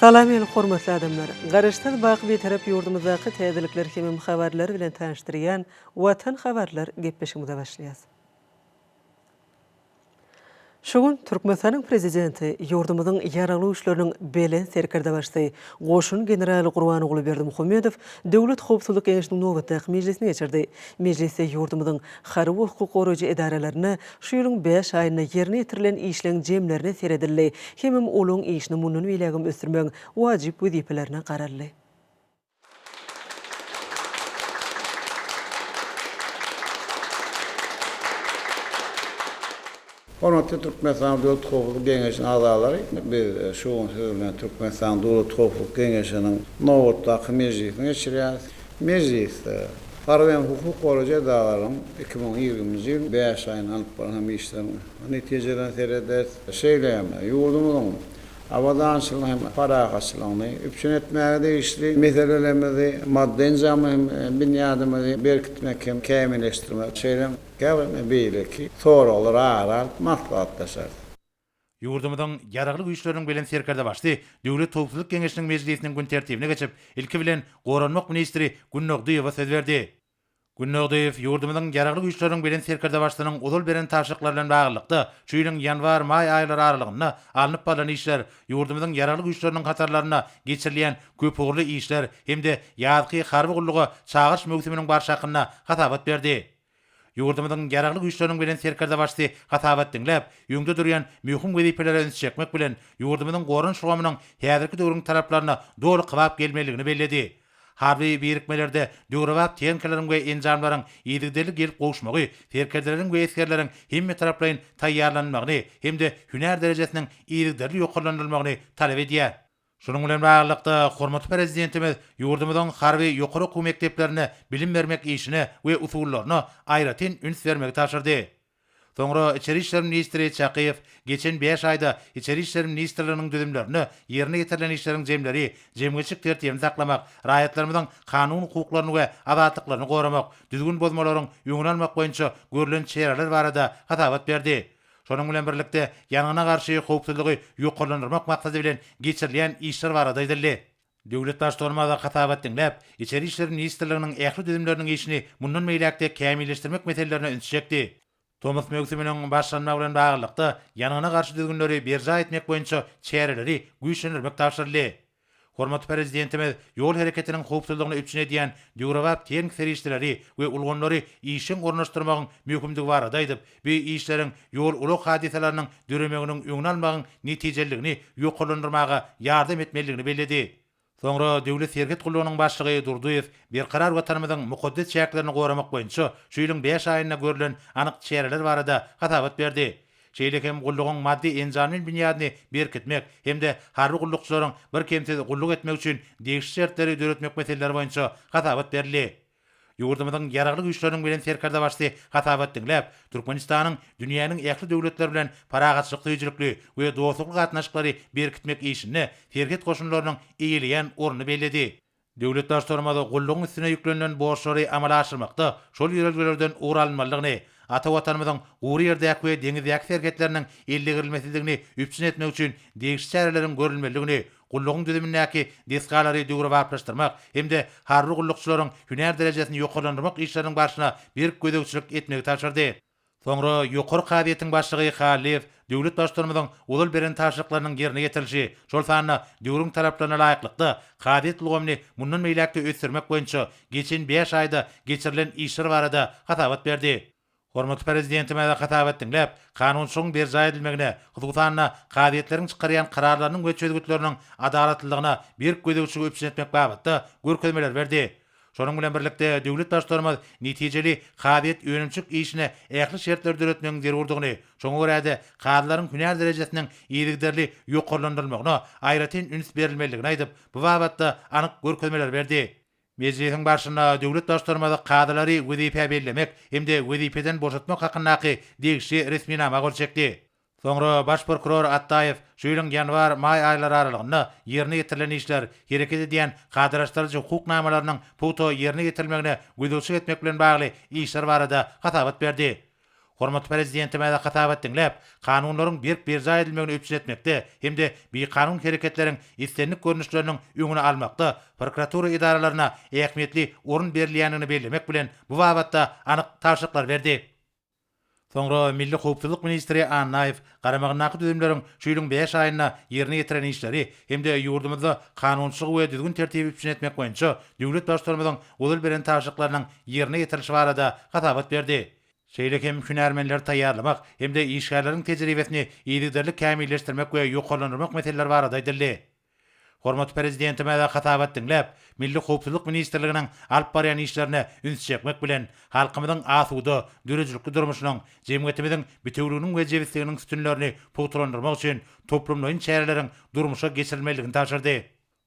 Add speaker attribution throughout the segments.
Speaker 1: Salam meni hormatly adamlar! Garaşsyz baky Bitarap ýurdumyzdaky täzelikler hemem habarlar bilen tanyşdyrýan Watan habarlar gepleşigimize başlaýas. Şu gün Türkmenistanyň Prezidenti ýurdumyzyň Ýaragly Güýçleriniň Belent Serkerdebaşysy, goşun generaly Gurbanguly Berdimuhamedow Döwlet howpsuzlyk geňeşiniň nobatdaky mejlisini geçirdi. Mejlisde ýurdumyzyň harby we hukuk goraýjy edaralaryna Şu ýylyň bäş aýynda ýerine ýetirilen işleň jemlerine seredildi, hemem olaň işini mundan beýlägem ösdürmegiň wajyp wezipelerine garaldy.
Speaker 2: Hormatly Türkmenistanyň Döwlet howpsuzlyk geňeşiniň agzalary, biz şu gün siz bilen Türkmenistanyň Döwlet howpsuzlyk geňeşiniň nobatdaky mejlisini geçirýäris. Mejlisde harby hem hukuk goraýjy edaralaryň iki müň ýigriminji ýylyň bäş aýynda alnyp barlan işleriniň netijelerine serederiz. Şeýle hem ýurdumyzyň abadançylygyny hem parahatçylygyny üpjün etmäge degişli meselelerimizi, maddy-enjamly hem binýadymyzy berkitmek hem kämilleşdirmek, şeýle hem käbir beýleki soraglar ara alyp maslahatlaşarys. Ýurdumyzyň
Speaker 3: Ýaragly Güýçleriniň Belent Serkerdebaşy Döwlet howpsuzlyk geňeşiniň mejlisiniň gün tertibine geçip, ilki bilen, goranmak ministri Günnogdyýewa söz berdi. Günnogdyýew ýurdumyzyň Ýaragly Güýçleriniň Belent Serkerdebaşysynyň ozal beren tabşyryklary bilen baglylykda, şu ýylyň ýanwar, maý aýlary aralygynda alnyp barlan işler, ýurdumyzyň Ýaragly Güýçleriniň hatarlarynda geçirilýän köpugurly işler hem-de ýazky harby gulluga çagyryş möwsüminiň barşy hakynda hasabat berdi. Ýurdumyzyň Ýaragly Güýçleriniň Belent Serkerdebaşysy hasabat diňläp, öňde durýan möhüm wezipelere üns çekmek bilen, ýurdumyzyň goranyş ulgamynyň häzirki döwrüň talaplaryna doly kybap gelmelidigini belledi. Harby birikmelerde döwrebap tehnikalaryň we enjamlaryň yzygiderli gelip gowuşmagy serkerdeleriň we esgerleriň hemmetaraplaýyn taýýarlanylmagyny hem-de hünär derejesiniň yzygiderli ýokarlandyrylmagyny talap edýär. Şunuň bilen baglylykda, hormatly Prezidentimiz ýurdumyzyň harby ýokary okuw mekdeplerinde bilim bermek işine we usullaryna aýratyn üns bermegi tabşyrdy. Soňra Içeri işler ministri Çakyýew geçen bäş aýda Içeri işler ministrliginiň düzümlerinde ýerine ýetirilen işleriň jemleri jemgyýetçilik tertibini saklamak, raýatlarymyzyň kanun hukuklaryny we azatlyklaryny goramak, düzgün bozmalaryň öňüni almak boýunça görlen çäreler barada hasabat berdi. Şonuň bilen birlikde, ýangyna garşy howpsuzlygy ýokarlandyrmak maksady bilen geçirilýän işler barada aýdyldy. Döwlet Baştutanymyza hasabat diňläp, Içeri işler ministrliginiň ähli düzümleriniň işini mundan beýläk-de kämilleşdirmek meselelerine üns çekdi. Tomus möwsüminiň başlanmagy bilen baglylykda, ýangyna garşy düzgünleri berjaý etmek boýunça çäreleri güýçlendirmek tabşyryldy. Hormatly Prezidentimiz ýol hereketiniň howpsuzlygyny üpjün edýän döwrebap tehniki serişdeleri we ulgamlary işjeň ornaşdyrmagyň möhümdigi barada aýdyp, bu işleriň ýol-ulag hadysalarynyň döremeginiň öňüni almagyň netijeliligini ýokarlandyrmaga ýardam etmelidigini belledi. Soňra Döwlet serhet gullugynyň başlygy Durdyýew Berkarar Watanymyzyň mukaddes çäklerini goramak boýunça şu ýylyň bäş aýynda görlen anyk çäreler barada hasabat berdi. şeýle hem gullugyň maddy-enjamly binýadyny berkitmek hem-de harby gullukçylaryň birkemsiz gulluk etmegi üçin degişli şertleri döretmek meseleleri boýunça hasabat berildi. Ýurdumyzyň Ýaragly Güýçleriniň Belent Serkerdebaşysy hasabat diňläp, Türkmenistanyň dünýäniň ähli döwletleri bilen parahatçylyk söýüjilikli we dostlukly gatnaşyklary berkitmek işinde serhet goşunlarynyň eýeleýän ornuny belledi. Döwlet Baştutanymyz gullugyň üstüne ýüklenilen borçlary amala aşyrmakda şol ýörelgelerden ugur alynmalydygyny, ata Watanymyzyň gury ýerdäki we deňizdäki serhetleriniň ellegirilmesizligini üpjün etmek üçin degişli çäreleriň görülmelidigini, gullugyň düzümindäki desgalary döwrebaplaşdyrmak hem-de harby gullukçylaryň hünär derejesini ýokarlandyrmak işleriniň barşyna berk gözegçilik etmegi tabşyrdy. Soňra Ýokary kazyýetiň başlygy Hallyýew döwlet Baştutanymyzyň ozal beren tabşyryklarynyň ýerine ýetirilişi, şol sanda döwrüň talaplaryna laýyklykda kazyýet ulgamyny mundan beýläk-de ösdürmek boýunça geçen bäş aýda geçirilen işler barada hasabat berdi. Hormatly Prezidentimize hasabat diňläp, kanunçylygyň berjaý edilmegine, hususan-da, kazyýetleriň çykarýan kararlarynyň we çözgütleriniň adalatlylygyna berk gözegçiligi üpjün etmek babatda görkezmeler berdi. Şonuň bilen birlikde, döwlet Baştutanymyz netijeli kazyýet-önümçilik işine ähli şertleri döretmegiň zerurdygyny, şoňa görä-de, kazylaryň hünär derejesiniň yzygiderli ýokarlandyrylmagyna aýratyn üns berilmelidigini aýdyp, bu babatda anyk görkezmeleri berdi. Mejlisiň barşynda döwlet Baştutanymyz kazylary wezipä bellemek hem-de wezipeden boşatmak hakyndaky degişli resminama gol çekdi. Soňra baş prokuror Atdaýew şu ýylyň ýanwar, maý aýlary aralygynda ýerine ýetirilen işler, hereket edýän kadalaşdyryjy hukuk namalarynyň pugta ýerine ýetirilmegine gözegçilik etmek bilen bagly işler barada hasabat berdi. Hormatly Prezidentimize hasabat diňläp, kanunlaryň berk berjaý edilmegini üpjün etmekde hem-de bikanun hereketleriň islendik görnüşleriniň öňüni almakda prokuratura edaralaryna ähmiýetli orun berilýändigini bellemek bilen, bu babatda anyk tabşyryklar berdi. Soňra milli howpsuzlyk ministri Annaýew garamagyndaky düzümleriň şu ýylyň bäş aýynda ýerine ýetiren işleri hem-de ýurdumyzda kanunçylygy we düzgün-tertibi üpjün etmek boýunça döwlet Baştutanymyzyň ozal beren tabşyryklarynyň ýerine ýetirilişi barada hasabat berdi. Şeýle hem hünärmenleri taýýarlamak hem-de işgärleriň tejribesini yzygiderli kämilleşdirmek we ýokarlandyrmak meseleleri barada aýdyldy. Hormatly Prezidentimize hasabat diňläp, Milli howpsuzlyk ministrliginiň alyp barýan işlerine üns çekmek bilen, halkymyzyň asuda, döredijilikli durmuşynyň, jemgyýetimiziň bitewüliginiň we jebisliginiň sütünlerini pugtalandyrmak üçin toplumlaýyn çäreleriň durmuşa geçirilmelidigini tabşyrdy.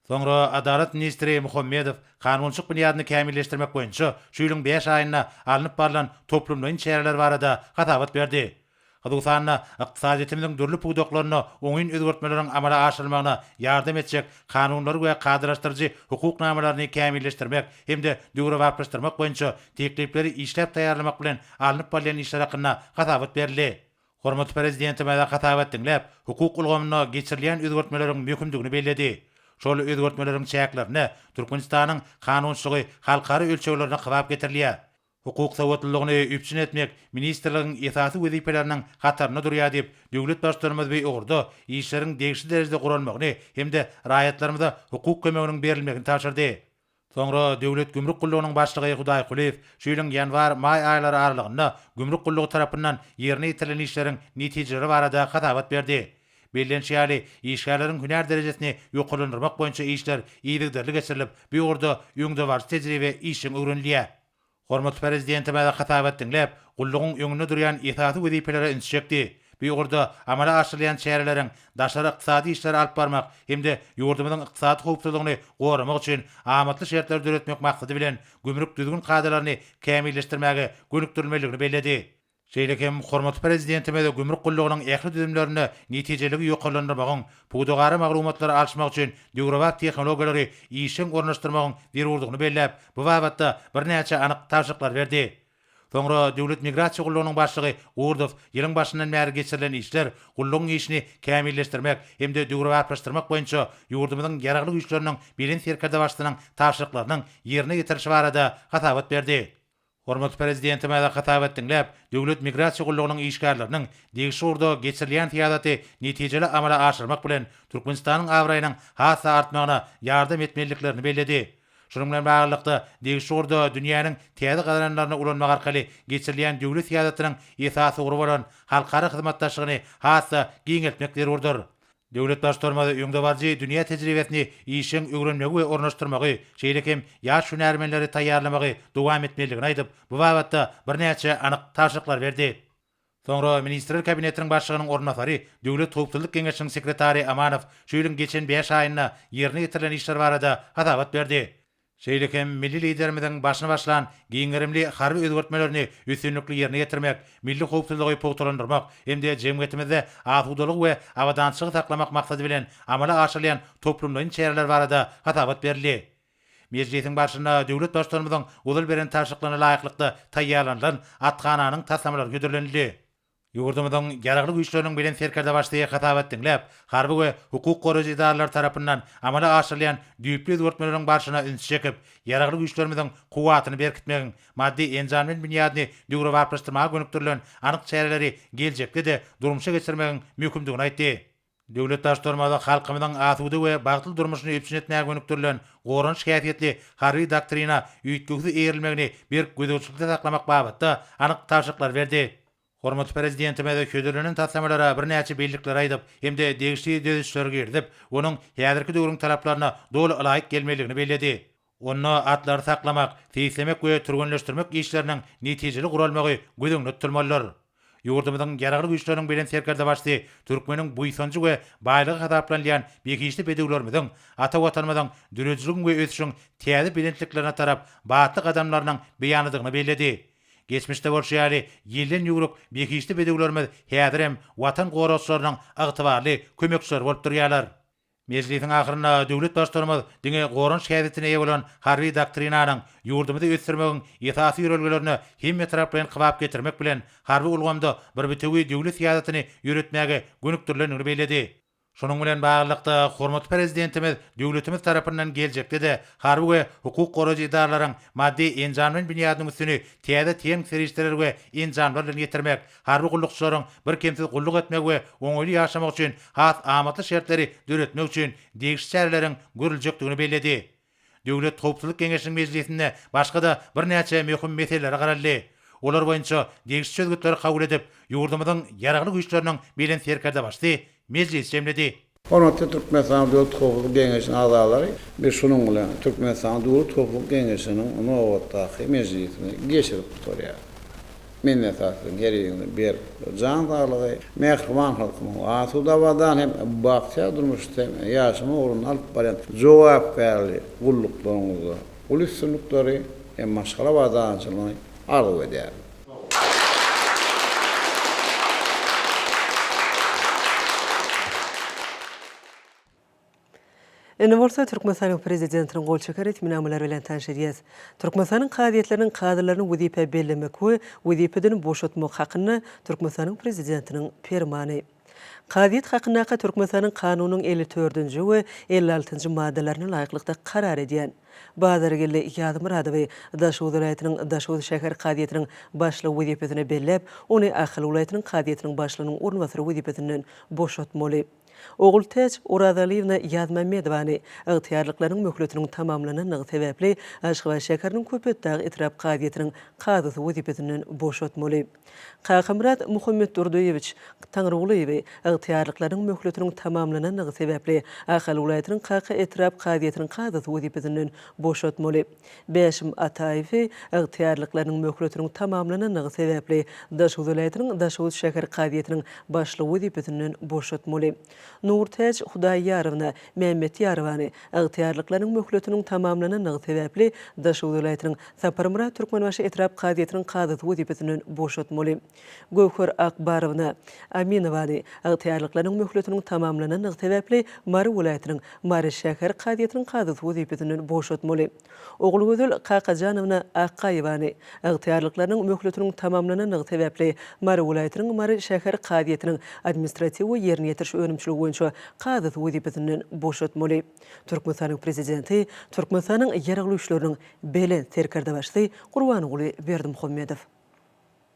Speaker 3: Soňra Adalat ministri Muhammedow kanunçylyk binýadyny kämilleşdirmek boýunça şu ýylyň bäş aýynda alnyp barlan toplumlaýyn çäreler barada hasabat berdi. hususan-da, ykdysadyýetimiziň dürli pudaklarynda oňyn özgertmeleriň amala aşyrylmagyna ýardam etjek kanunlary we kadalaşdyryjy hukuk namalaryny kämilleşdirmek hem-de döwrebaplaşdyrmak boýunça teklipleri işläp taýýarlamak bilen alnyp barylýan işler hakynda hasabat berildi. Hormatly Prezidentimiz hasabat diňläp, hukuk ulgamynda geçirilýän özgertmeleriň möhümdigini belledi. Şol özgertmeleriň çäklerinde Türkmenistanyň kanunçylygy halkara ölçeglerine kybap getirilýär. Hukuk sowatlylygyny üpjün etmek ministrligiň esasy wezipelerini hatarynda durýar diýip, döwlet Baştutanymyz bu ugurda işleriň degişli derejede guralmagyny hem-de raýatlarymyza hukuk kömeginiň berilmegini tabşyrdy. Soňra Döwlet gümrük gullugynyň başlygy Hudaýkulyýew şu ýylyň ýanwar-maý aýlary aralygynda gümrük gullugy tarapyndan ýerine ýetirilen işleriň netijeleri barada hasabat berdi. Bellenişi ýaly, işgärleriň hünär derejesini ýokarlandyrmak boýunça işler yzygiderli geçirilip, bu ugurda öňdebaryjy tejribe işjeň öwrenilýär. Hormatly Prezidentimiz hasabat diňläp, gullugyň öňünde durýan esasy wezipelere ünsi çekdi. Bu ugurda amala aşyrylýan çäreleriň daşary ykdysady işleri alyp barmak hem-de ýurdumyzyň ykdysady howpsuzlygyny goramak üçin amatly şertleri döretmek maksady bilen gümrük düzgün kadalaryny kämilleşdirmäge gönükdirilmelidigini belledi. Şeýle hem hormatly Prezidentimiz gümrük gullugynyň ähli düzümlerinde netijeliligi ýokarlandyrmagyň, pudagara maglumatlary alyşmak üçin döwrebap tehnologiýalary işjeň ornaşdyrmagyň zerurdygyny belläp, bu babatda birnäçe anyk tabşyryklary berdi. Soňra Döwlet migrasiýa gullugynyň başlygy Gurdow ýylyň başyndan bäri geçirilen işler, gullugyň işini kämilleşdirmek hem-de döwrebaplaşdyrmak boýunça ýurdumyzyň Ýaragly Güýçleriniň Belent Serkerdebaşysynyň tabşyryklarynyň ýerine ýetirilişi barada hasabat berdi. Hormatly Prezidentimize hasabat diňläp, Döwlet migrasiýa gullugynyň işgärleriniň degişli ugurda geçirilýän syýasaty netijeli amala aşyrmak bilen, Türkmenistanyň abraýynyň has-da artmagyna ýardam etmelidiklerini belledi. Şunuň bilen baglylykda, degişli ugurda dünýäniň täze gazananlaryny ulanmak arkaly geçirilýän döwlet syýasatynyň esasy ugry bolan halkara hyzmatdaşlygyny has-da giňeltmek zerurdyr. Döwlet Baştutanymyz öňdebaryjy dünýä tejribesini işjeň öwrenmegi we ornaşdyrmagy, şeýle hem ýaş hünärmenleri taýýarlamagy dowam etmelidigini aýdyp, bu babatda birnäçe anyk tabşyryklar berdi. Soňra Ministrler Kabinetiniň Başlygynyň orunbasary, Döwlet howpsuzlyk geňeşiniň sekretary Amanow şu ýylyň geçen bäş aýynda ýerine ýetirilen işler barada hasabat berdi. Şeýle hem milli Liderimiziň başyny başlan giň gerimli harby özgertmelerini üstünlikli ýerine ýetirmek, milli howpsuzlygy pugtalandyrmak hem-de jemgyýetimizde asudalygy we abadançylygy saklamak maksady bilen amala aşyrylýan toplumlaýyn çäreler barada hasabat berildi. Mejlisiň barşynda döwlet Baştutanymyzyň ozal beren tabşyryklaryna laýyklykda taýýarlanylan athananyň taslamalary hödürlenildi. Ýurdumyzyň Ýaragly Güýçleriniň Belent Serkerdebaşy hasabat diňläp, harby we hukuk goraýjy edaralary tarapyndan amala aşyrylýan düýpli özgertmeleriň barşyna ünsi çekip, Ýaragly Güýçlerimiziň kuwwatyny berkitmegiň maddy-enjam bilen binýadyny döwrebaplaşdyrmaga gönükdirilen anyk çäreleri geljekde-de durmuşa geçirmegiň möhümdigini aýtdy. Döwlet daş-toraňymyzda halkymyzyň asuda we bagtly durmuşyny üpjün etmäge gönükdirilen goranyş häsiýetli harby doktrina üýtgewsiz eýerilmegini berk gözegçilikde saklamak babatda anyk tabşyryklary berdi. Hormatly Prezidentimiz hödürlenen taslamalara birnäçe bellikleri aýdyp hem-de degişli düzedişleri girizip, onuň häzirki döwrüň talaplaryna doly ylaýyk gelmelidigini belledi. Onda atlary saklamak, seýislemek we türgenleşdirmek işleriniň netijeli guralmagy göz öňünde tutulmalydyr. Ýurdumyzyň Ýaragly Güýçleriniň Belent Serkerdebaşysy türkmeniň buýsanjy we baýlygy hasaplanylýan behişdi bedewlerimiziň ata Watanymyzyň döredijiligiň we ösüşiň täze belentliklerine tarap batly gadamlarynyň beýanydygyny belledi. Geçmişde bolşy ýaly, ýelden ýüwrük behişdi bedewlerimiz häzirem Watan goragçylarynyň ygtybarly kömekçileri bolup durýarlar. Mejlisiň ahyrynda döwlet Baştutanymyz diňe goranyş häsiýetine eýe bolan Harby doktrinanyň ýurdumyzy ösdürmegiň esasy ýörelgelerine hemmetaraplaýyn kybap getirmek bilen, harby ulgamda bir bitewi döwlet syýasatyny ýöretmäge gönükdirilendigini belledi. Şunuň bilen baglylykda, hormatly Prezidentimiz döwletimiz tarapyndan geljekde-de harby we hukuk goraýjy edaralaryň maddy-enjamlaýyn binýadynyň üstüni täze tehniki serişdeler we enjamlar bilen ýetirmek, harby gullukçylaryň birkemsiz gulluk etmegi we oňaýly ýaşamagy üçin has amatly şertleri döretmek üçin degişli çäreleriň görüljekdigini belledi. Döwlet howpsuzlyk geňeşiniň mejlisinde başga-da birnäçe möhüm meselelere garaldy. Olar boýunça degişli çözgütleri kabul edip, ýurdumyzyň Ýaragly Güýçleriniň Belent Serkerdebaşysy mejlisi jemledi. Hormatly Türkmenistanyň
Speaker 2: Döwlet howpsuzlyk geňeşiniň agzalary, biz şunuň bilen Türkmenistanyň Döwlet howpsuzlyk geňeşiniň nobatdaky mejlisini geçirip gutarýarys. Minnetdar siziň her biriňize berk jan saglygy, mähriban halkymyň asuda-abadan hem bagtyýar durmuşda ýaşama ugrunda alyp barýan jogapkärli gulluklaryňyzda uly üstünlikleri hem maşgala abadançylygyny arzuw edýärin.
Speaker 1: Indi bolsa Türkmenistanyň Prezidentiniň gol çeken resminamalary bilen tanyş edýäs. Türkmenistanyň kazyýetleriniň kazylaryny wezipä bellemek we wezipeden boşatmak hakynda Türkmenistanyň Prezidentiniň Permany. Kazyýet hakyndaky Türkmenistanyň Kanunynyň elli dördünji we elli altynjy maddalaryna laýyklykda karar edýän Bazargeldi Ýazmyradowy Daşoguz welaýatynyň Daşoguz şäher kazyýetiniň başlygy wezipesine belläp, ony Ahal welaýatynyň kazyýetiniň başlygynyň orunbasary wezipesinden boşatmaly. Ogultäç Orazalyýewna Ýazmämmedowany ygtyýarlyklarynyň möhletiniň tamamlanandygy sebäpli Aşgabat şäheriniň Köpetdag etrap kazyýetiniň kazysy wezipesinden boşatmaly. Kakamyrat Muhammetdurdyýewiç Taňrygulyýewi ygtyýarlyklarynyň möhletiniň tamamlanandygy sebäpli Ahal welaýatynyň Kaka etrap kazyýetiniň kazysy wezipesinden boşatmaly. Bäşim Ataýewi ygtyýarlyklarynyň möhletiniň tamamlanandygy sebäpli Daşoguz welaýatynyň Daşoguz şäher kazyýetiniň başlygy wezipesinden boşatmaly. Nurtäç Hudaýýarowna Mämmetýarowany ygtyýarlyklarynyň möhletiniň tamamlanandygy sebäpli Daşoguz welaýatynyň Saparmyrat Türkmenbaşy etrap kazyýetiniň kazysy wezipesinden boşatmaly. Göwher Akbarowna Aminowany ygtyýarlyklarynyň möhletiniň tamamlanandygy sebäpli Mary welaýatynyň Mary şäher kazyýetiniň kazysy wezipesinden boşatmaly. Ogulgözel Kakajanowna Akgaýewany, ygtyýarlyklarynyň möhletiniň tamamlanandygy sebäpli, Mary welaýatynyň Mary şäher kazyýetiniň administratiw we ýerine ýetiriş önümçiligi boýunça kazysy wezipesinden boşatmaly. Türkmenistanyň Prezidenti Türkmenistanyň Ýaragly Güýçleriniň Belent Serkerdebaşysy Gurbanguly Berdimuhamedow.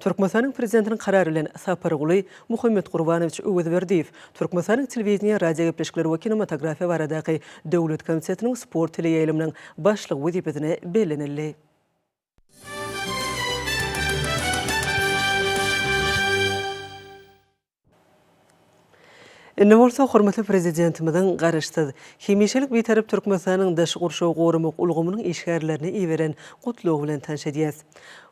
Speaker 1: Türkmenistanyň Prezidentiniň Karary bilen Saparguly Muhammetgurbanowiç Öwezberdiýew Türkmenistanyň Telewideniýe, radiogepleşikler we kinematografiýa baradaky döwlet komitetiniň sport teleýaýlymynyň başlygy wezipesine bellenildi. Indi bolsa hormatly Prezidentimiziň Garaşsyz, hemişelik Bitarap Türkmenistanyň daşky gurşawy goramak ulgamynyň işgärlerine iberen Gutlagy bilen tanyş edýäs.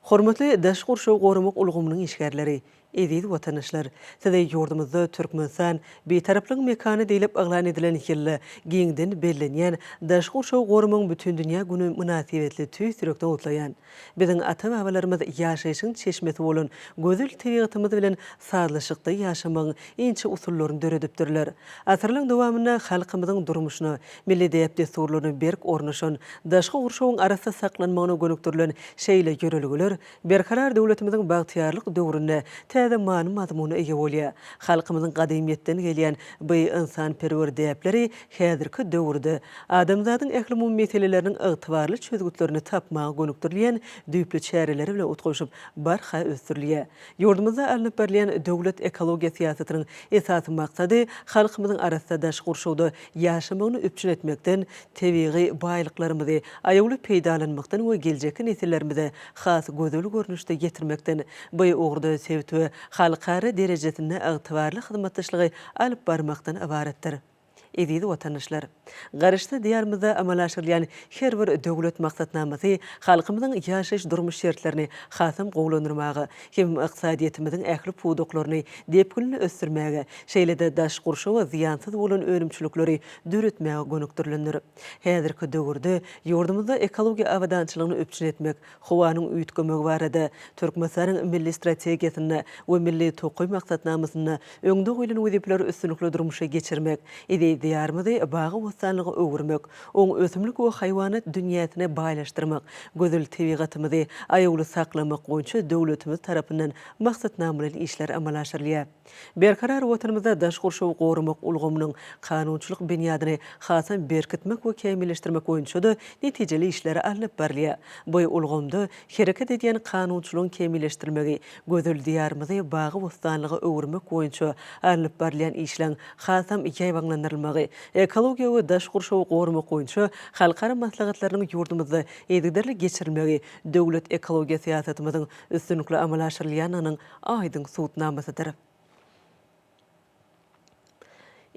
Speaker 1: Hormatly daşky gurşawy goramak ulgamynyň işgärleri! Eziz watandaşlar! Size ýurdumyzda Türkmenistan, Bitaraplygyň mekany diýlip yglan edilen ýylda giňden bellenýän Daşky gurşawy goramagyň bütindünýä güni mynasybetli tüýs ýürekden gutlaýan. Biziň ata-babalarymyz ýaşaýşyň çeşmesi bolan gözel tebigatymyz bilen sazlaşykda ýaşamagyň inçe usullaryny döredipdirler. Asyrlaryň dowamynda halkymyzyň durmuşyna, milli däp-dessurlaryna berk ornaşan, daşky gurşawyň arassa saklanmagyna gönükdirilen şeýle ýörelgeler Berkarar döwletimiziň bagtyýarlyk döwründe täze many-mazmuna eýe bolýar. Halkymyzyň gadymyýetden gelýän bu ynsanperwer däpleri Häzirki döwürde adamzadyň ählumumy meseleleriniň ygtybarly çözgütlerini tapmaga gönükdirilýän düýpli çäreleri bilen utgaşyp, barha ösdürilýär. Ýurdumyzda alnyp barylýan döwlet ekologiýa syýasatynyň esasy maksady halkymyzyň arassa daşky gurşawda ýaşamagyny üpjün etmekden, tebigy baýlyklarymyzy aýawly peýdalanmakdan we geljekki nesillerimize has gözel görnüşde ýetirmekden, bu ugurda sebit we halkara derejesinde ygtybarly hyzmatdaşlygy alyp barmakdan ybaratdyr. Eziz watandaşlar! Garaşsyz Diýarymyzda amala aşyrylýan her bir döwlet maksatnamasy halkymyzyň ýaşaýyş-durmuş şertlerini hasam gowulandyrmaga hem ykdysadyýetimiziň ähli pudaklaryny depginli ösdürmäge, şeýle-de daş gurşawa zyýansyz bolan önümçilikleri döretmäge gönükdirilendir. Häzirki döwürde ýurdumyzda ekologiýa abadançylygyny üpjün etmek, Howanyň üýtgemegi barada Türkmenistanyň Milli strategiýasynda we Milli tokaý maksatnamasynda öňde goýlan wezipeleri üstünlikli durmuşa geçirmek, eziz Diýarymyzy bagy-bossanlyga öwürmek, oň ösümlik we haýwanat dünýäsine baýlaşdyrmak, gözel tebigatymyzy aýawly saklamak boýunça döwletimiz tarapyndan maksatnamaly işler amala aşyrylýar. Berkarar Watanymyzda daş gurşawy goramak ulgamynyň kanunçylyk binýadyny hasam berkitmek we kämilleşdirmek boýunça-da netijeli işler alnyp barylýar. Bu ulgamda hereket edýän kanunçylygyň kämilleşdirilmegi gözel Diýarymyzy bagy-bossanlyga öwürmek boýunça alnyp barylýan işleň hasam ýaýbaňlandyrylmagy, ekologiýa we daş gurşawy goramak boýunça halkara maslahatlarynyň ýurdumyzda yzygiderli geçirilmegi döwlet ekologiýa syýasatymyzyň üstünlikli amala aşyrylýandygynyň aýdyň sud namasydyr.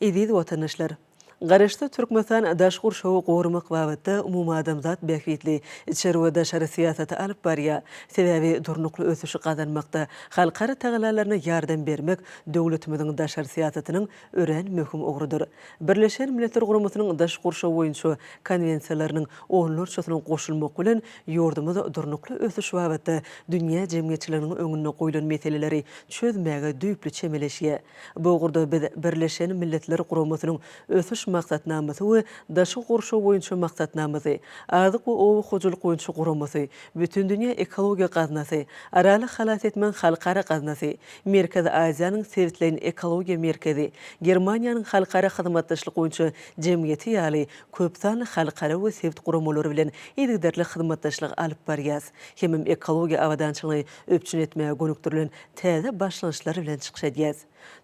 Speaker 1: Eziz watandaşlar! Garaşsyz Türkmenistan daşky gurşawy goramak babatda umumadamzat bähbitli içeri we daşary syýasaty alyp barýar. Sebäbi durnukly ösüşi gazanmakda halkara tagallalaryna ýardam bermek döwletimiziň daşary syýasatynyň örän möhüm ugrudyr. Birleşen Milletler Guramasynyň daş gurşaw boýunça konwensiýalarynyň onlarçasyna goşulmak bilen, ýurdumyz durnukly ösüş babatda dünýä jemgyýetçiliginiň öňünde goýlan meseleleri çözmäge düýpli çemeleşýär. Bu ugurda biz Birleşen Milletler Guramasynyň Ösüş maksatnamasy we Daşky gurşaw boýunça maksatnamasy, Azyk we oba hojalyk boýunça guramasy, Bütindünýä ekologiýa gaznasy, Araly halas etmegiň halkara gaznasy, Merkezi Aziýanyň sebitleýin ekologiýa merkezi, Germaniýanyň halkara hyzmatdaşlyk boýunça jemgyýeti ýaly köp sanly halkara we sebit guramalary bilen yzygiderli hyzmatdaşlyk alyp barýas, hemem ekologiýa abadançylygyny üpjün etmäge gönükdirilen täze başlangyçlar bilen çykyş edýäs.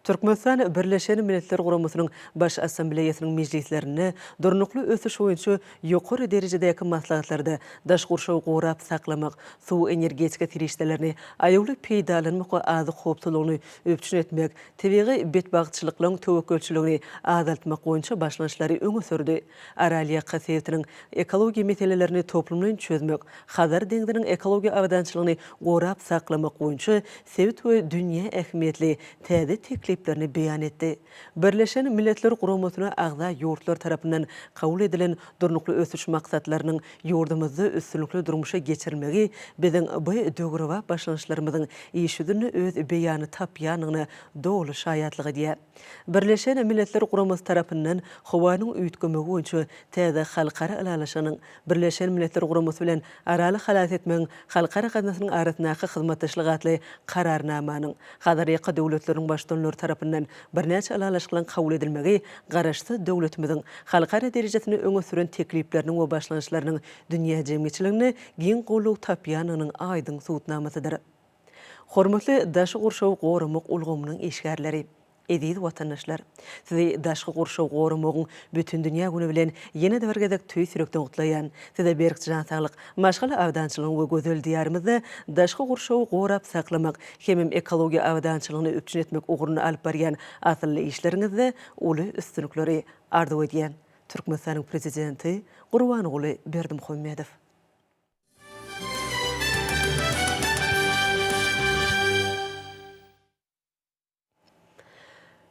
Speaker 1: Türkmenistan Birleşen Milletler Guramasynyň Baş Assambleýasynyň mejlislerinde Durnukly ösüş boýunça Ýokary derejedäki maslahatlarda daş gurşawy gorap saklamak, suw-energetika serişdelerini aýawly peýdalanmak we azyk howpsuzlygyny üpjün etmek, tebigy betbagtçylyklaryň töwekgelçiligini azaltmak boýunça başlangyçlary öňe sürdi. Aralýaka sebitiniň ekologiýa meselelerini toplumlaýyn çözmek, Hazar deňziniň ekologiýa abadançylygyny gorap saklamak boýunça sebit we dünýä ähmiýetli täze tekliplerini beýan etdi. Birleşen Milletler Guramasyna agza ýurtlar tarapyndan kabul edilen Durnukly ösüş maksatlarynyň ýurdumyzda üstünlikli durmuşa geçirilmegi biziň bu döwrebap başlangyçlarymyzyň iş ýüzünde öz beýanyny tapýandygyna doly şaýatlyk edýär. Birleşen Milletler Guramasy tarapyndan Howanyň üýtgemegi boýunça täze halkara ylalaşygynyň Birleşen Milletler Guramasy bilen Araly halas etmegiň halkara gaznasynyň arasyndaky hyzmatdaşlyk atly Kararnamanyň Hazarýaka döwletleriniň Baştutanlary tarapyndan birnäçe ylalaşyklaryň kabul edilmegi Garaşsyz döwletimiziň halkara derejesinde öňe süren teklipleriniň we başlangyçlarynyň dünýä jemgyýetçiliginde giň goldaw tapýandygynyň aýdyň subutnamasydyr. Hormatly daşy gurşawy goramak ulgamynyň işgärleri! Eziz watandaşlar! Sizi Daşky gurşawy goramagyň Bütindünýä güni bilen ýene-de bir gezek tüýs ýürekden gutlaýan. Size berk jan saglyk, maşgala abadançylygyň we gözel Diýarymyzda daşky gurşawy gorap saklamak hemem ekologiýa abadançylygyny üpjün etmek ugrunda alyp barýan asylly işleriňizde uly üstünlikleri arzuw edýän. Türkmenistanyň Prezidenti Gurbanguly Berdimuhamedow.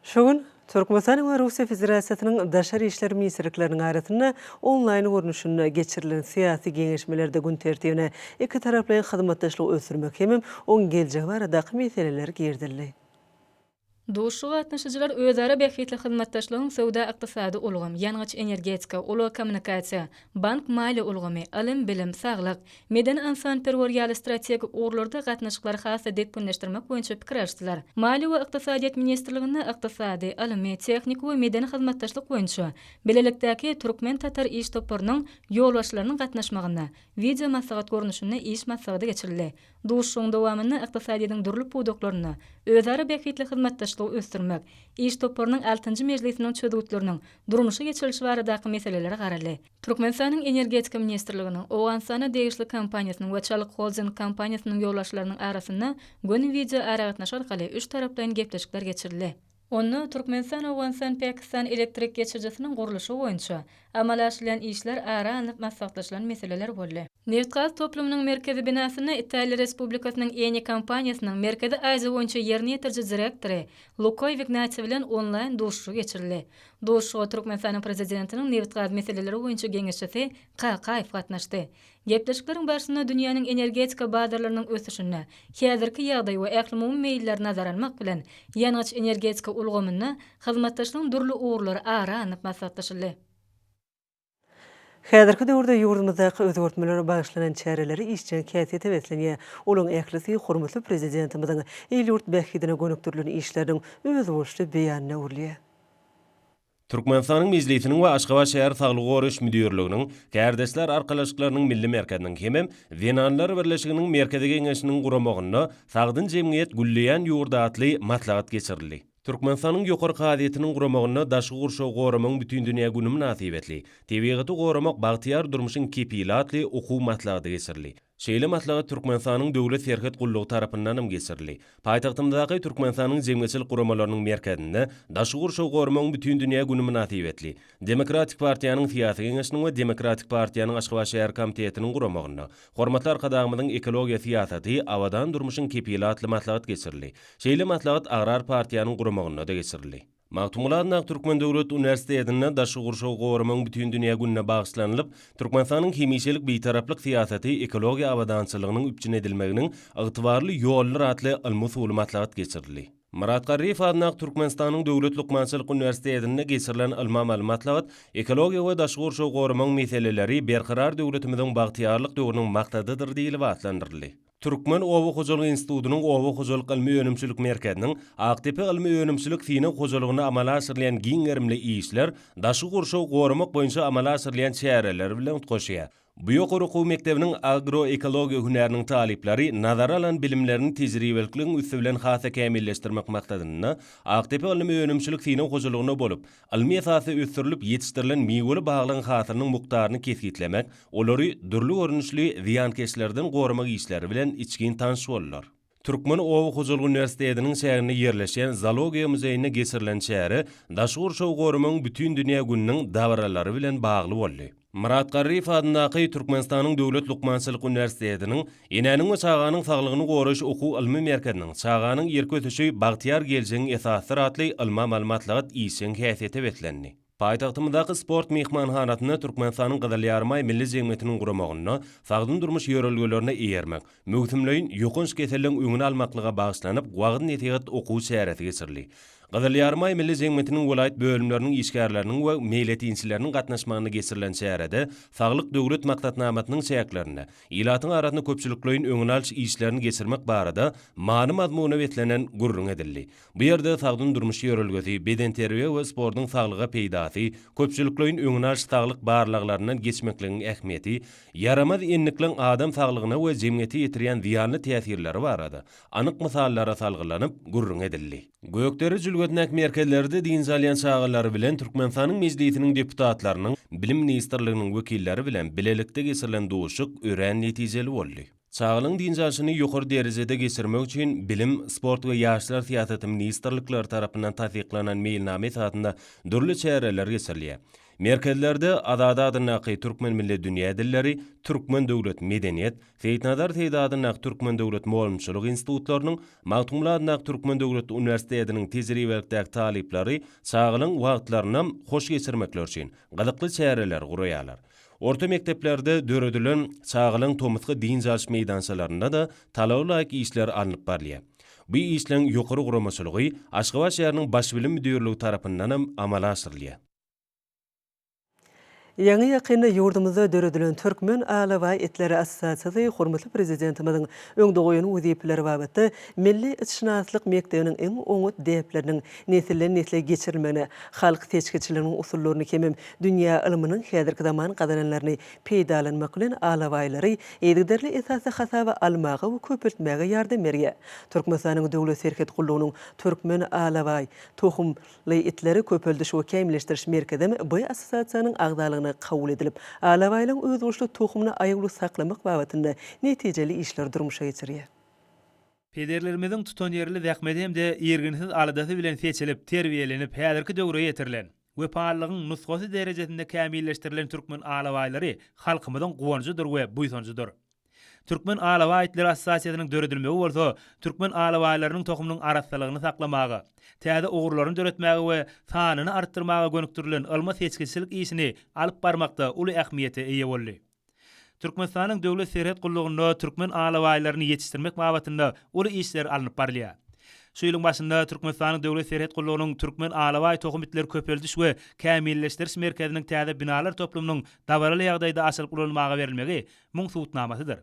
Speaker 1: Şu gün Türkmenistanyň we Russiýa Federasiýasynyň Daşary işler ministrlikleriniň arasynda onlaýn görnüşinde geçirilen syýasy geňeşmelerde gün tertibine ikitaraplaýyn hyzmatdaşlygy ösdürmek hemem oň geljegi baradaky meseleler girizildi.
Speaker 4: Duşuşyga gatnaşyjylar özara bähbitli hyzmatdaşlygyň söwda-ykdysady ulgam, ýangyç-energetika, ulag-kommunikasiýa, bank-maliýe ulgamy, ylym-bilim, saglyk, medeni-ynsanperwer ýaly strategik ugurlarda gatnaşyklary has-da depginleşdirmek boýunça pikir alşdylar. Maliýe we ykdysadyýet ministrliginde Ykdysady, ylmy, tehniki we medeni hyzmatdaşlyk boýunça bilelikdäki türkmen-tatar iş toparynyň ýolbaşçylarynyň gatnaşmagynda wideo maslahat görnüşinde iş maslahady geçirildi. Duşuşygyň dowamynda ykdysadyýetiň dürli pudaklarynda özara bähbitli hyzmatdaşlygy ösdürmek iş toparynyň altynjy mejlisiniň çözgütleriniň durmuşa geçirilişi baradaky meselelere garaldy. Türkmenistanyň Energetika ministrliginiň, Owganystana degişli kompaniýasynyň we Çalyk Holding kompaniýasynyň ýolbaşçylarynyň arasynda göni wideoaragatnaşyk arkaly üç taraplaýyn gepleşikler geçirildi. Onda Türkmenistan-Owganystan-Pakistan elektrik geçirijisiniň gurluşygy boýunça amala aşyrylýan işler ara alnyp maslahatlaşylan meseleler boldy. Nebitgaz toplumynyň merkezi binasynda Italiýa Respublikasynyň Eni kompaniýasynyň Merkezi Aziýa boýunça ýerine ýetiriji direktory Luka Wignatsi bilen onlaýn duşuşygy geçirildi. Duşuşyga Türkmenistanyň Prezidentiniň nebitgaz meseleleri boýunça geňeşçisi Kakaýew gatnaşdy. Gepleşikleriň barşynda dünýäniň energetika bazarlarynyň ösüşine, häzirki ýagdaý we ählumumy meýilleri nazara almak bilen, ýangyç-energetika ulgamynda hyzmatdaşlygyň dürli ugurlary ara alnyp maslahatlaşyldy.
Speaker 1: Häzirki döwürde ýurdumyzdaky özgertmelere bagyşlanan çäreleri işjeň häsiýete beslenýär. Olaryň ählisi hormatly Prezidentimiziň il-ýurt bähbidine gönükdirilen işleriniň özboluşly beýanyna öwrülýär.
Speaker 5: Türkmenistanyň Mejlisiniň we Aşgabat şäher saglygy goraýyş müdirliginiň, Kärdeşler arkalaşyklarynyň milli merkeziniň hemem Zenanlar birleşiginiň Merkezi Geňeşiniň guramagynda Sagdyn jemgyýet, gülleýän ýurt atly maslahat geçirildi. Türkmenistanyň Ýokary kazyýetiniň guramagynda Daşky gurşawy goramagyň bütindünýä güni mynasybetli Tebigaty goramak bagtyýar durmuşyň kepili atly okuw maslahaty geçirildi. Şeýle maslahat Türkmenistanyň Döwlet serhet gullugy tarapyndanam geçirildi. Paýtagtymyzdaky Türkmenistanyň jemgyýetçilik guramalarynyň merkezinde Daşky gurşawy goramagyň bütindünýä güni mynasybetli Demokratik partiýanyň Syýasy geňeşiniň we Demokratik partiýanyň Aşgabat şäher komitetiniň guramagynda Hormatly Arkadagymyzyň ekologiýa syýasaty, abadan durmuşyň kepili atly maslahat geçirildi. Şeýle maslahat Agrar partiýanyň guramagynda-da geçirildi. Magtymguly Adnak Türkmen döwlet uniwersitetinde Daşky gurşawy goramagyň bütindünýä gününe bagyşlanylyp, Türkmenistanyň hemişelik Bitaraplyk syýasaty ekologiýa abadançylygynyň üpjün edilmeginiň ygtybarly ýoludyr atly ylmy-usuly maslahat geçirildi. Myrat Garryýew adyndaky Türkmenistanyň Döwlet lukmançylyk uniwersitetinde geçirilen ylmy-amaly maslahat Ekologiýa we daşky gurşawy goramagyň meseleleri Berkarar döwletimiziň bagtyýarlyk döwrüniň maksadydyr diýlip atlandyryldy. Türkmen oba hojalygy institutynyň Oba hojalyk ylmy-önümçilik merkeziniň Akdepe ylmy-önümçilik synag hojalygynda amala aşyrylýan giň gerimli işler daşky gurşawy goramak boýunça amala aşyrylýan çäreler bilen utgaşýar. Bu ýokary okuw mekdebiniň agroekologiýa hünäriniň talyplary nazara alan bilimlerini tejribelikligiň üsti bilen has-da kämilleşdirmek maksadynda Akdepe ylmy önümçilik synag hojalygynda bolup, ylmy esasda ösdürilip ýetişdirilen miweli baglygyň hasylynyň mukdaryny kesgitlemek, olary dürli görnüşli zyýankeşlerden goramak işleri bilen içgin tanyş boldular. Türkmen oba hojalyk uniwersitetiniň çäginde ýerleşýän Zoologiýa muzeýinde geçirilen çäre Daş gurşawy goramagyň bütindünýä gününiň dabaralary bilen bagly boldy. Myrat Garryýew adyndaky Türkmenistanyň Döwlet lukmançylyk uniwersitetiniň Enäniň we çaganyň saglygyny goraýyş okuw-ylmy merkeziniň Çaganyň ýerki ösüşi, bagtyýar geljegiň esasydyr atly ylmy-amaly maslahat işjeň häsiýete beslendi. Paýtagtymyzdaky Sport myhmanhanasynda Türkmenistanyň Gyzyl Ýarymaý Milli jemgyýetiniň guramagynda Sagdyn durmuş ýörelgelerine eýermek, möwsümleýin ýokanç keselleriň öňüni almaklyga bagyşlanyp wagyz-nesihat okuw çäresi geçirildi. Gyzyl Ýarymaý Milli jemgyýetiniň welaýat bölümleriniň işgärleriniň we meýletinçileriniň gatnaşmagynda geçirilen çärede Saglyk Döwlet maksatnamasynyň çäklerinde ilatyň arasynda köpçülikleýin öňüni alyş işlerini geçirmek barada many-mazmuna beslenen gürrüň edildi. Bu ýerde sagdyn durmuş ýörelgesi, bedenterbiýe we sportuň saglyga peýdasy, köpçülikleýin öňünalyş saglyk barlaglaryndan geçmekligiň ähmiýeti, ýaramaz endikligiň adam saglygyna we jemgyýete ýetirýän zyýanly täsirleri barada anyk mysallara salgylanyp gürrüň edildi. Gökdere jülgesindäki merkezlerde dynç alýan çagalar bilen Türkmenistanyň Mejlisiniň deputatlarynyň, Bilim ministrliginiň wekilleri bilen bilelikde geçirilen duşuşyk örän netijeli boldy. Çagalaryň dynç alşyny ýokary derejede geçirmek üçin Bilim, sport we ýaşlar syýasaty ministrlikleri tarapyndan tassyklanan meýilnama esasynda dürli çäreler geçirilýär. Merkezlerde Azady adyndaky Türkmen milli dünýä dilleri, Türkmen döwlet medeniýet, Seýitnazar Seýdi adyndaky Türkmen döwlet mugallymçylyk institutlarynyň, Magtymguly adyndaky Türkmen döwlet uniwersitetiniň tejribelikdäki talyplary çagalaryň wagtlaryny hoş geçirmekleri üçin gyzykly çäreleri guraýarlar. Orta mekdeplerde döredilen çagalaryň tomusky dynç alyş meýdançalarynda-da talaba laýyk işler alnyp barylýar. Bu işleň ýokary guramaçylygy Aşgabat şäheriniň Baş bilim müdirligi tarapyndanam amala aşyrylýar.
Speaker 1: Ýaňy-ýakynda ýurdumyzda döredilen Türkmen alabaý itleri assosiasiýasy hormatly Prezidentimiziň öňde goýan wezipeleri babatda milli itşynaslyk mekdebiniň iň oňat däpleriniň nesilden-nesle geçirilmegine, halk seçgiçiliginiň usullaryny hemem Dünýä ylmynyň häzirki zaman gazananlaryny peýdalanmak bilen alabaýlary yzygiderli esasda hasaba almaga we köpeltmäge ýardam berýär. Türkmenistanyň Döwlet serhet gullugynyň Türkmen alabaý tohum ly itleri köpeldiş we kämilleşdiriş merkezem bu assosiasiýanyň agzalygyna kabul edilip, alabaýlaryň özboluşly tohumyny aýawly saklamak babatynda netijeli işleri durmuşa geçirýär.
Speaker 6: Pederlerimiziň tutanýerli zähmeti hem-de irginsiz aladasy bilen seçilip, terbiýelenip, häzirki döwre ýetirilen. Wepalylygyň nusgasy derejesinde kämilleşdirilen türkmen alabaýlary halkymyzyň guwanjydyr we buýsanjydyr. Türkmen alabaý itleri assosiasiýasynyň döredilmegi bolsa türkmen alabaýlarynyň tohumynyň arassalygyny saklamaga, täze ugurlaryny döretmäge we sanyny artdyrmaga gönükdirilen ylmy-seçgiçilik işini alyp barmakda uly ähmiýete eýe boldy. Türkmenistanyň Döwlet serhet gullugynda türkmen alabaýlaryny ýetişdirmek babatynda uly işler alnyp barylýar. Şu ýylyň başynda Türkmenistanyň Döwlet serhet gullugynyň Türkmen alabaý tohum itleri köpeldiş we kämilleşdiriş merkeziniň täze binalar toplumynyň dabaraly ýagdaýda açylyp ulanmaga berilmegi muň subutnamasydyr.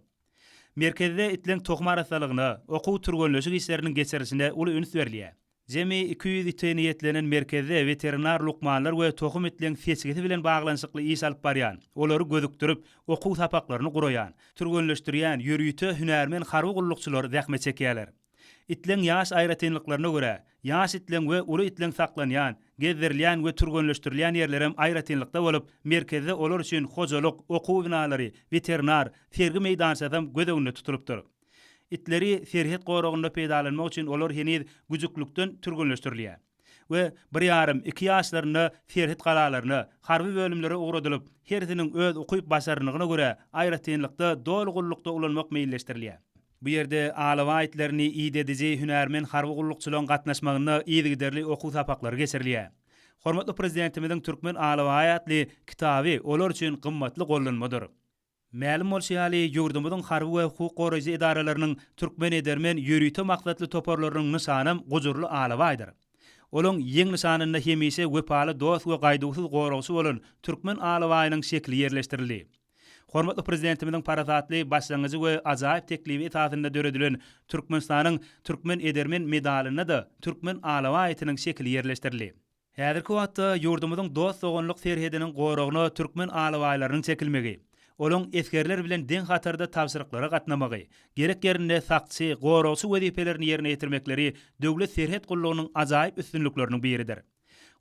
Speaker 6: Merkezde itleriň tohum arassalygyna, okuw-türgenleşik işleriniň geçirilişine uly üns berilýär. Jemi iki ýüz ite niýetlenen merkezde weterinar lukmanlar we tohum itleň seçgisi bilen baglanyşykly iş alyp barýan, olary gözükdirip, okuw sapaklaryny guraýan, türgenleşdirýän ýörite hünärmen harby gullukçylar zähmet çekýärler. Itleň ýaş aýratynlyklaryna görä, ýaş itleň we uly itleň saklanýan, gezdirilýän we türgenleşdirilýän ýerlerem aýratynlykda bolup, merkezde olar üçin hojalyk, okuw binalary, weterinar, sergi meýdançasam göz öňünde tutulypdyr. Itleri serhet goragynda peýdalanmak üçin olar heniz güjüklükden türgenleşdirilýär we bir ýarym, iki ýaşlarynda serhet galalaryna, harby bölümlere ugradylyp, hersiniň öz ukyp-başarnygyna görä aýratynlykda doly gullukda ulanmak meýilleşdirilýär. Bu ýerde alabaý itlerini idediji hünärmen harby gullukçylaryň gatnaşmagynda yzygiderli okuw sapaklary geçirilýär. Hormatly Prezidentimiziň Türkmen alabaýy atly kitaby olar üçin gymmatly gollanmadyr. Mälim bolşy ýaly, ýurdumyzyň harby we hukuk goraýjy edaralarynyň türkmen edermen ýörite maksatly toparlarynyň nyşanam gujurly alabaýdyr. Olaň ýeň nyşanynda hemişe wepaly dost we gaýduwsyz goragçy bolan türkmen alabaýynyň şekili ýerleşdirildi. Hormatly Prezidentimiziň parasatly başlangyjy we ajaýyp teklibi esasynda döredilen Türkmenistanyň Türkmen edermen medalynda-da türkmen alabaý itiniň şekili ýerleşdirildi. Häzirki wagtda ýurdumyzyň dost-doganlyk serhediniň goragyna türkmen alabaýlarynyň çekilmegi, olaryň esgerler bilen deň hatarda tabşyryklara gatnamagy, gerek ýerinde sakçy, goragçy wezipelerini ýerine ýetirmekleri Döwlet serhet gullugynyň ajaýyp üstünlikleriniň biridir.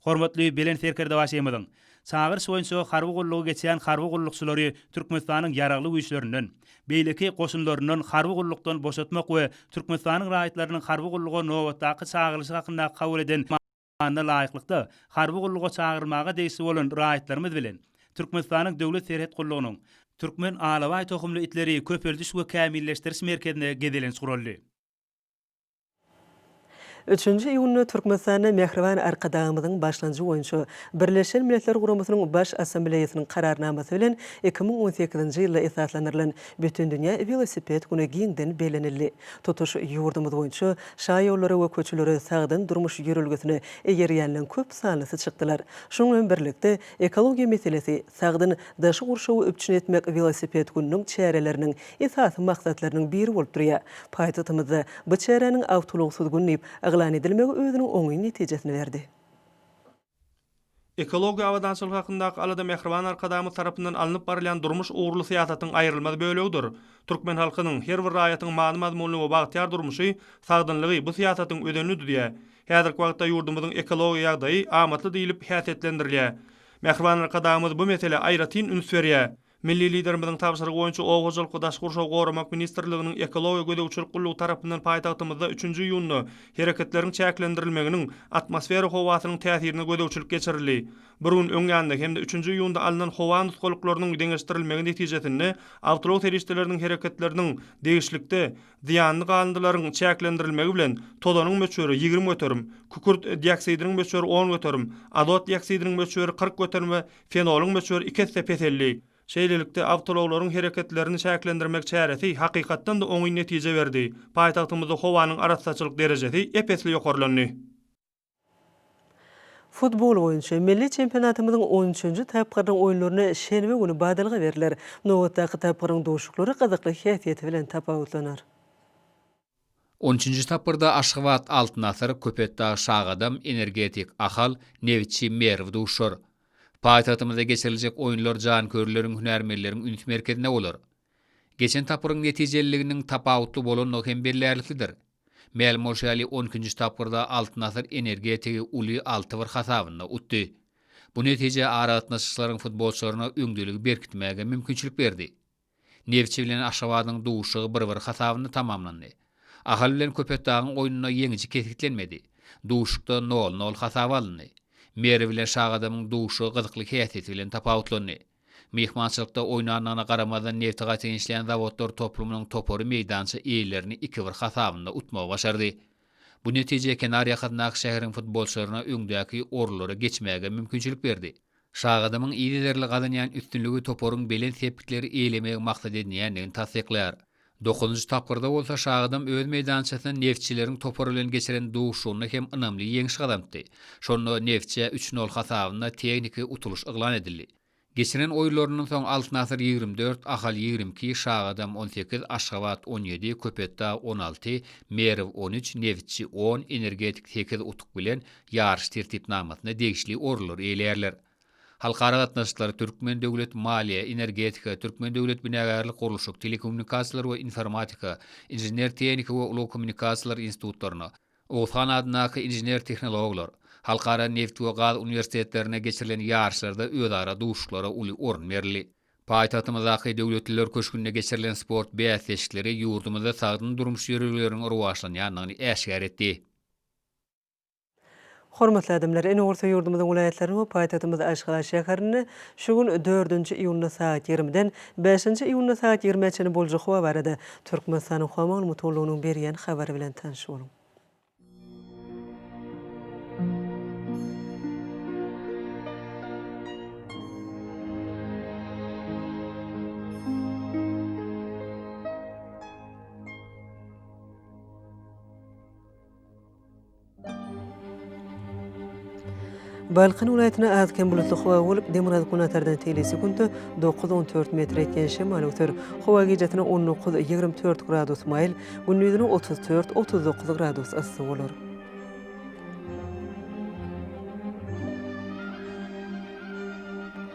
Speaker 6: Hormatly Belent Serkerdebaşymyzyň çagyryşy boýunça harby gullugy geçýän harby gullukçylary Türkmenistanyň Ýaragly Güýçlerinden, beýleki goşunlaryndan harby gullukdan boşatmak we Türkmenistanyň raýatlarynyň harby gulluga nobatdaky çagyrylyşy hakynda kabul eden Kanuna laýyklykda, harby gulluga çagyrylmaga degişli bolan raýatlarymyz bilen Türkmenistanyň Döwlet serhet gullugynyň Türkmen alabaý tohumly itleri köpeldiş we kämilleşdiriş merkezinde gezelenç guraldy.
Speaker 1: Üçünji iýunda Türkmenistanda Mähriban Arkadagymyzyň başlanjy boýunça Birleşen Milletler Guramasynyň Baş Assambleýasynyň Kararnamasy bilen iki müň on sekizinji ýylda esaslandyrylan Bütindünýä welosiped güni giňden bellenildi. Tutuş ýurdumyz boýunça Şaýollara we köçelere sagdyn durmuş ýörelgesine eýerýänleň köp sanlysy çykdylar. Şunuň bilen birlikde, ekologiýa meselesi, sagdyn daşky gurşawy üpjün etmek welosiped gününiň çäreleriniň esasy maksatlarynyň biri bolup durýar. Paýtagtymyzda bu çäräniň Awtoulagsyz gün diýip yglan edilmegi özüniň oňyn netijesini berdi.
Speaker 7: Ekologiýa abadançylygy hakyndaky alada Mähriban Arkadagymyz tarapyndan alnyp barylýan durmuş ugurly syýasatyň aýrylmaz bölegidir. Türkmen halkynyň, her bir raýatyň many-mazmunly we bagtyýar durmuşy, sagdynlygy bu syýasatyň özenini düzýär. Häzirki wagtda ýurdumyzyň ekologiýa ýagdaýy amatly diýlip häsiýetlendirilýär. Mähriban Arkadagymyz bu meselä aýratyn üns berýär. Milli Liderimiziň tabşyrygy boýunça Oba hojalyk we daşky gurşawy goramak ministrliginiň Ekologiýa gözegçilik gullugy tarapyndan paýtagtymyzda üçünji iýunda hereketleriň çäklendirilmeginiň atmosfera howasynyň täsirine gözegçilik geçirildi. Bir gün öň ýanda hem-de üçünji iýunda alnan howa nusgalyklarynyň deňeşdirilmegi netijesinde awtoulag serişdeleriniň hereketleriniň degişlikde zyýanly galyndylaryň çäklendirilmegi bilen tozanyň möçberi ýigrimi göterim, kükürt dioksidiniň möçberi on göterim, azot dioksidiniň möçberi kyrk göterim we Fenolyň möçberi iki esse peseldi. Şeýlelikde, awtoulaglaryň hereketlerini çäklendirmek çäresi hakykatdan-da oňyn netije berdi, paýtagtymyzda howanyň arassaçylyk derejesi ep-esli ýokarlandy.
Speaker 1: Futbol boýunça milli çempionatymyzyň on üçünji tapgyrynyň oýunlaryna şenbe güni badalga berler. Nobatdaky tapgyryň duşuklary gyzykly häsiýeti bilen tapawutlanar.
Speaker 8: On üçünji tapgyrda Aşgabat, Altyn asyr, Köpetdag, Şagadam, Energetik, Ahal, Nebitçi, Merw duşar. Paýtagtymyzda geçiriljek oýunlar janköýerleriň, hünärmenleriň üns merkezinde bolar. Geçen tapgyryň netijeliliginiň tapawutly bolandygy hem bellärliklidir. Mälim bolşy ýaly, on ikinji tapgyrda Altyn asyr Energetigi uly alty bir hasabynda utdy. Bu netije aragatnaşyklaryň futbolçylaryna öňdeligi berkitmäge mümkinçilik berdi. Neftçi bilen Aşgabadyň duşuşygy bir-bir hasabynda tamamlandy. Ahal bilen Köpetdagyň oýnunda ýeňiji kesgitlenmedi. Duşuşykda nol-nol hasaba alyndy. Merw bilen Şagadamyň duşuşygy gyzykly häsiýeti bilen tapawutlandy. Myhmançylykda oýnandygyna garamazdan Nefti gaty ençleýän zawodlar toplumynyň topary meýdança eýelerini iki-bir hasabynda utmagy başardy. Bu netije kenarýakasyndaky şäheriň futbolçylaryna öňdäki orunlara geçmäge mümkinçilik berdi. Şagadamyň yzygiderli gazanýan üstünligi toparyň belent sepgitleri eýelemegi maksat edinýändigini tassyklaýar. Dokuzynjy tapgyrda bolsa Şagadam öz meýdançasynda Neftçileriň topary bilen geçiren duşuşygynda hem ynamly ýeňiş gazanypdy. Şonda Neftçä üç nol hasabynda tehniki utulyş yglan edildi. Geçiren oýunlaryndan soň Altyn asyr ýigrimi dört, Ahal ýigrimi iki, Şagadam on sekiz, Aşgabat on ýedi, Köpetdag on alty, Merw on üç, Neftçi on, Energetik sekiz utuk bilen Ýaryş tertipnamasyna degişli orunlary eýeleýärler. Halkara gatnaşyklary, Türkmen döwlet, Maliýe, Energetika, Türkmen döwlet, Binagärlik, Gurluşyk, Telekommunikasiýalar we informatika, Inžener-tehniki we ulag kommunikasiýalary institutlaryna, Oguzhan adyndaky Inžener-tehnologlar, Halkara neft we gaz uniwersitetlerine geçirilen ýaryşlarda özara duşuşyklara uly orun berildi. Paýtagtymyzdaky Döwletliler köşgünde geçirilen sport bäsleşikleri ýurdumyzda sagdyn durmuş ýörelgeleriniň rowaçlanýandygyny äşgär etdi.
Speaker 1: Hormatly adamlar, ene gursa ýurdumyzyň welaýatlaryny we paýtagtymyz Aşgabat şäherini şu gün dördünji iýunda sagat ýigrimiden bäşinji iýunda sagat ýigrimä çenli boljak howa barada Türkmenistanyň howa maglumatgullugynyň berýän habary bilen tanyş boluň. Balkan welaýatynda az-kem bulutly howa bolup, demirgazyk-günbatardan teýli sekuntda dokuz, on dört metr etýän şemal öser. Howa gijasine on dokuz, ýigrimi dört gradus maýyl, gündizine otuz dört, otuz dokuz gradus yssy bolar.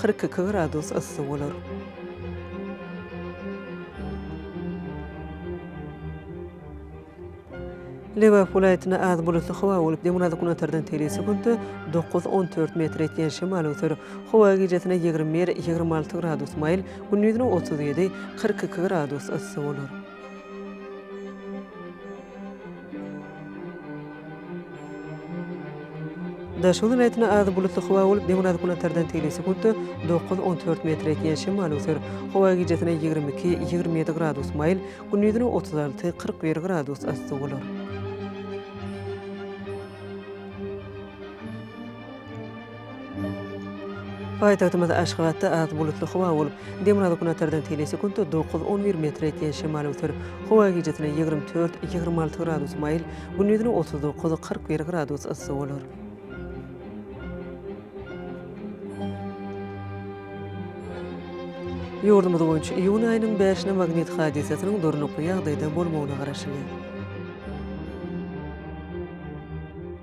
Speaker 1: Kyrk iki gradus yssy bolar. Lebap welaýatynda az bulutly howa bolup, demirgazyk-günortadan teýli sekuntda dokuz, on dört metr etýän şemal öser. Howa gijesine ýigrimi bir, ýigrimi alty gradus maýyl, gündizine otuz ýedi, kyrk iki gradus yssy bolar. Daşoguz welaýatynda az bulutly howa bolup, demirgazyk günortadan tegelek sekuntda dokuz-on dört metr ýetýän şemal öser. Howa gijäsine ýigrimi iki, ýigrimi ýedi gradus maýyl, gündizine otuz alty, kyrk bir gradus yssy bolar. Paýtagtymyz Aşgabatda az bulutly howa bolup, demirgazyk-günortadan telesekuntda dokuz, on bir metre ýetýän şemal öwser. Howa gijesine ýigrimi dört, ýigrimi alty gradus maýyl, gündizine otuz dokuz, kyrk bir gradus yssy bolar. Ýurdumyz boýunça iýun aýynyň bäşine magnit hadysasynyň durnukly ýagdaýda bolmagyna garaşylýar.